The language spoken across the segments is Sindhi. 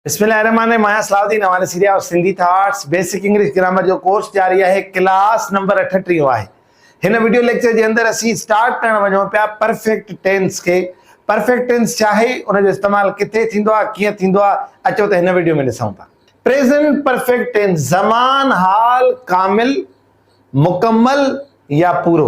بسم الله الرحمٰن الرحيم آهيان صلاح الدين حوالي series of Sindhi thoughts basic English grammar جو ڪورس جاري آهي ڪلاس نمبر اٺٽيهون آهي هن وڊيو ليڪچر جي اندر اسين اسٽارٽ ڪرڻ وڃون پيا پرفيڪٽ ٽينس کي پرفيڪٽ ٽينس ڇا آهي ان جو استعمال ڪٿي ٿيندو آهي ڪيئن ٿيندو آهي اچو ته هن وڊيو ۾ ڏسون ٿا پريزنٽ پرفيڪٽ ٽينس زمان حال ڪامل مڪمل يا پورو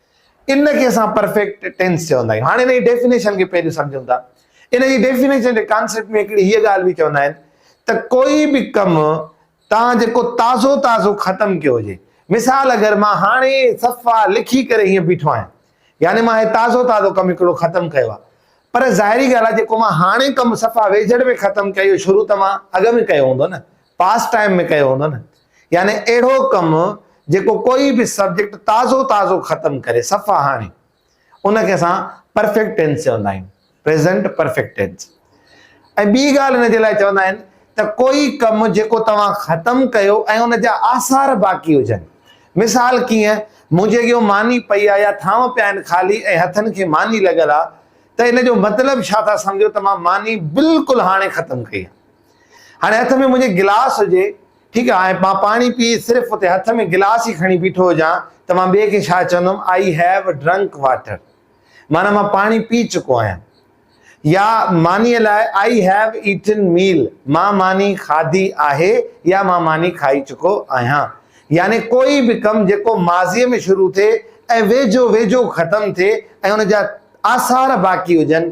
ان کي اسان پرفيڪٽ ٽينس چوندا آهيون. هاڻي ان جي ڊيفينيشن کي پهريون سمجهون ٿا. ان جي ڊيفينيشن جي ڪانسيپٽ ۾ هڪڙي هيء ڳالهه به چوندا آهن ته ڪوئي به ڪم توهان جيڪو تازو تازو ختم ڪيو هجي. مثال اگر مان هاڻي صفا لکي ڪري هيئن بيٺو آهيان يعني مان هي تازو تازو ڪم هڪڙو ختم ڪيو آهي پر ظاهري ڳالهه آهي جيڪو مان هاڻي ڪم صفا ويجهڙ ۾ ختم ڪيو شروع ته مان اڳ ۾ ڪيو هوندو نه پاس ٽائيم ۾ ڪيو هوندو نه يعني اهڙو ڪم جيڪو ڪوئي به سبجيڪٽ تازو تازو ختم ڪري صفا هاڻي ان کي اسان پرفيڪٽ ٽينس چوندا آهيون پريزنٽ پرفيڪٽ ٽينس ۽ ٻي ڳالهه ان جي لاء چوندا آهن ته ڪوئي ڪم جيڪو توهان ختم ڪيو ۽ ان جا آثار باقي هجن مثال ڪيئن منهنجي اڳيو ماني پئي آهي يا ٿانو پيا آهن خالي ۽ هٿن کي ماني لڳل آهي ته ان جو مطلب ڇا ٿا سمجهو ته مان ماني بلڪل هاڻي ختم ڪئي هاڻي هٿ ۾ منهنجي گلاس هجي، ٺيڪ آ، ۽ مان پاڻي پي صرف اتي هٿ ۾ گلاس ئي کڻي بيٺو هجان ته مان ٻئي کي ڇا چوندم آئي هيو ڊرنڪ واٽر معنيٰ مان پاڻي پي چڪو آهيان يا مانيء لاء آئي هيو ايٽن ميل مان ماني کاڌي آهي يا مان ماني کائي چڪو آهيان يعني ڪوئي به ڪم جيڪو ماضيء ۾ شروع ٿئي ۽ ويجهو ويجهو ختم ٿئي ۽ ان جا آثار باقي هجن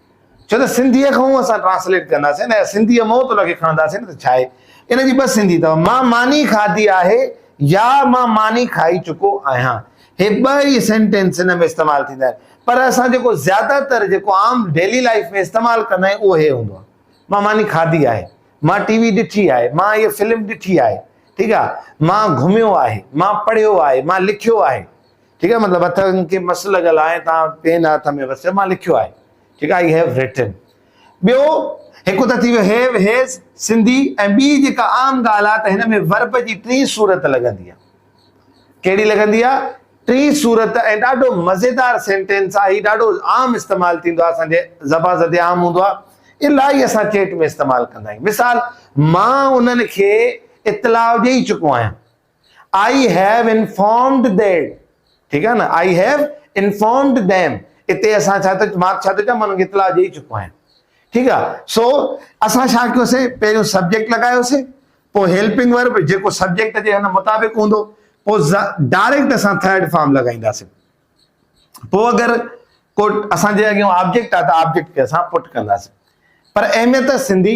ڇو ته سنڌيء کان اسان ٽرانسليٽ ڪنداسين نه سنڌيء مئو ته ان کي کڻنداسين ته ڇا آهي؟ ان جي ٻه سنڌي اٿو، مان ماني کاڌي آهي يا مان ماني کائي چڪو آهيان. هي ٻه ئي سينٽينس ان ۾ استعمال ٿيندا آهن. پر اسان جيڪو زياده تر جيڪو عام ڊيلي لائيف ۾ استعمال ڪندا آهيون اهو هي هوندو آهي، مان ماني کاڌي آهي، مان ٽي وي ڏٺي آهي، مان هيء فلم ڏٺي آهي، ٺيڪ آهي، مان گهميو آهي، مان پڙهيو آهي، مان لکيو آهي. ٺيڪ آهي مطلب هٿن کي مس لڳل آهي تان پين هٿ ۾ وسيو مان لکيو آهي ٺيڪ آهي آئي هيو ريٽن ٻيو هڪ ته ٿي ويو هيو هيز سنڌي ۽ ٻي جيڪا عام ڳالهه آهي ته هن ۾ ورب جي ٽي صورت لڳندي آهي ڪهڙي لڳندي آهي ٽي صورت ۽ ڏاڍو مزيدار سينٽينس آهي هي ڏاڍو عام استعمال ٿيندو آهي اسان جي زبان زدي عام هوندو آهي الاهي اسان چيٽ ۾ استعمال ڪندا آهيون مثال مان انهن کي اطلاع ڏيئي چڪو آهيان آئي هيو انفارمڊ ديم ٺيڪ آهي نه آئي هيو انفارمڊ ديم اتي اسان ڇا ٿو مان ڇا ٿو چوان مان انهن کي اطلاع ڏئي چڪو آهيان ٺيڪ آهي سو اسان ڇا ڪيوسي پهريون سبجيڪٽ لڳايوسي پوء هيلپنگ ورب جيڪو سبجيڪٽ جي هن مطابق هوندو پوء ڊائريڪٽ اسان ٿرڊ فارم لڳائينداسي پوء اگر ڪو اسان جي اڳيان آبجيڪٽ آهي ته آبجيڪٽ کي اسان پٽ ڪنداسي پر اهميت سنڌي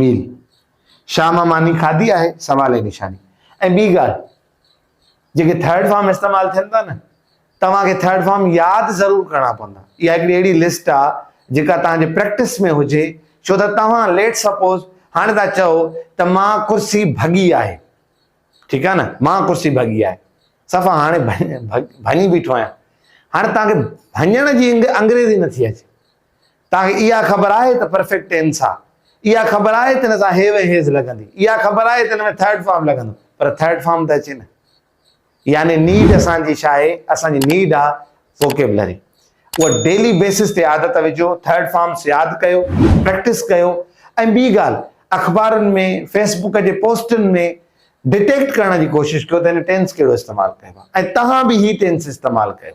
ميل شاهه مان ماني کاڌي آهي سوال جي نشاني ۽ ٻي ڳالهه جيڪي ٿرڊ فارم استعمال ٿين ٿا نه توهان کي ٿرڊ فارم ياد ضرور ڪرڻا پوندا اها هڪڙي اهڙي لسٽ آ جيڪا توهان جي پريڪٽس ۾ هجي ڇو ته توهان ليٽ سپوز هاڻي تھا چئو ته مان ڪرسي ڀڳي آهي ٺيڪ آ نه مان ڪرسي ڀڳي آهي صفا هاڻي ڀڃي بيٺو آهيان هاڻي توهان کي ڀڃڻ جي انگريزي نٿي اچي توهان کي اها خبر آهي ته پرفيڪٽ ٽينس آهي، اها خبر آهي ته ان سان هيو ۽ هيز لڳندي، اها خبر آهي ته ان ۾ ٿرڊ فارم لڳندو، پر ٿرڊ فارم ته اچي نه. يعني نيڊ اسان جي ڇا آهي؟ اسان جي نيڊ آهي ووڪيبلري. اها ڊيلي بيسس تي عادت وجهو، ٿرڊ فارمس ياد ڪيو، پريڪٽس ڪيو ۽ ٻي ڳالهه اخبارن ۾ فيس بوڪ جي پوسٽن ۾ ڊيٽيڪٽ ڪرڻ جي ڪوشش ڪيو ته هن ٽينس ڪهڙو استعمال ڪيو آهي ۽ توهان به هي ٽينس استعمال ڪيو.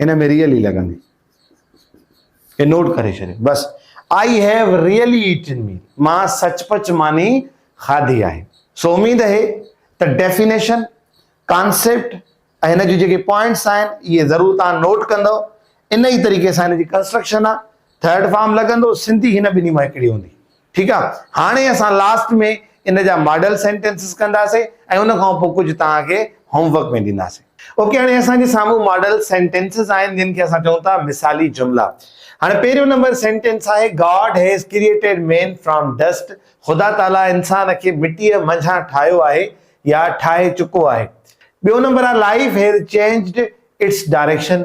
ان ۾ ريئلي لڳندي اي نوٽ ڪري ڇڏيو بس I have really eaten me مان سچ پچ ماني کاڌي آهي سو اميد هي ته ڊيفينيشن ڪانسيپٽ ۽ هن جون جيڪي پوائنٽس آهن اهي ضرور تان نوٽ ڪندو ان ئي طريقي سان هن جي ڪنسٽرڪشن آهي ٿرڊ فارم لڳندو سنڌي هن ٻنهي مان هڪڙي هوندي ٺيڪ آ هاڻي اسان لاسٽ ۾ ان جا ماڊل سينٽينسز ڪنداسي ۽ ان کان پوء ڪجهه توهان کي هوم ورڪ ۾ ڏينداسي اوڪي هاڻي اسان جي سامهون ماڊل سينٽينسز آهن جن کي اسان چئون ٿا مثالي جملا هاڻي پهريون نمبر سينٽينس آهي God has created man from dust خدا تعالي انسان کي مٽيء منجهان ٺاهيو آهي يا ٺاهي چڪو آهي ٻيو نمبر آهي life has changed its direction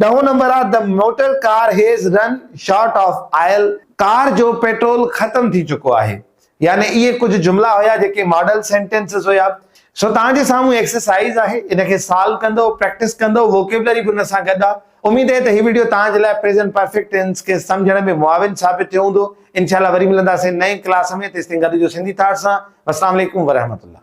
ڏهون نمبر of the motor car has run short of oil, car جو پيٽرول ختم ٿي چڪو آهي. يعني اهي ڪجهه جملا هيا جيڪي ماڊل سينٽينسز هيا. سو توهان جي سامهون ايڪسرسائيز آهي ان کي سالو ڪندو پريڪٽس ڪندو ووڪيبلري به ان سان گڏ آهي. اميد اهي ته هي وڊيو توهان جي لاء پريزنٽ پرفيڪٽ ٽينس کي سمجهڻ ۾ معاون ثابت ٿيو هوندو. انشاءالله وري ملنداسين نئين ڪلاس ۾ تيستائين گڏ هجو سنڌي ٿاٽس سان. والسلام عليڪم ورحمة الله.